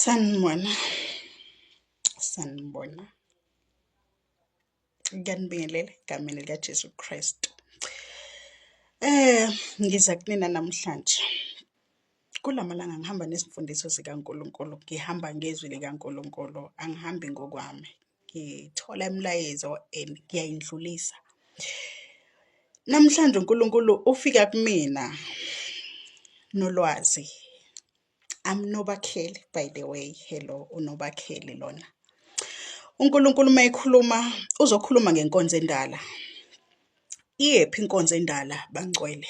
sanibona sanibona ngiyanibingelela egameni likajesu kristu eh ngiza kunina namhlanje kula malanga ngihamba nezimfundiso zikankulunkulu ngihamba ngezwi likankulunkulu angihambi ngokwami ngithola imilayezo and ngiyayindlulisa. Namhlanje uNkulunkulu ufika kumina nolwazi. I'm Nobakheli by the way. Hello uNobakheli lona. UNkulunkulu uma ekhuluma uzokhuluma ngenkonzo endala. Iyephi inkonzo endala bangcwele?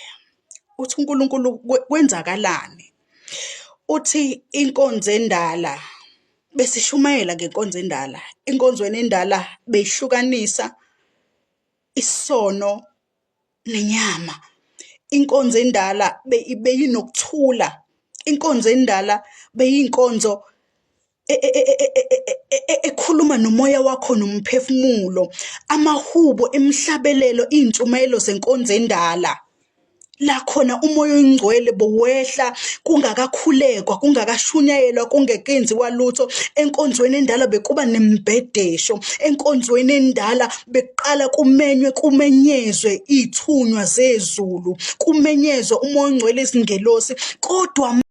Uthi uNkulunkulu kwenzakalani? Uthi inkonzo endala Besishumayela ngenkonzo endala. Enkonzweni endala beyihlukanisa isono nenyama. Inkonzo endala beyinokuthula. Inkonzo endala beyinkonzo e, e, e, ekhuluma nomoya wakho nomphefumulo. Amahubo, imihlabelelo, izintshumayelo zenkonzo endala. la khona umoya oyingcwele bowehla kungakakhulekwa kungakashunyayelwa kungekenziwa lutho enkonzweni endala bekuba nembhedesho enkonzweni endala bekuqala kumenywe kumenyezwe ithunywa zezulu kumenyezwe umoya ongcwele izingelosi kodwa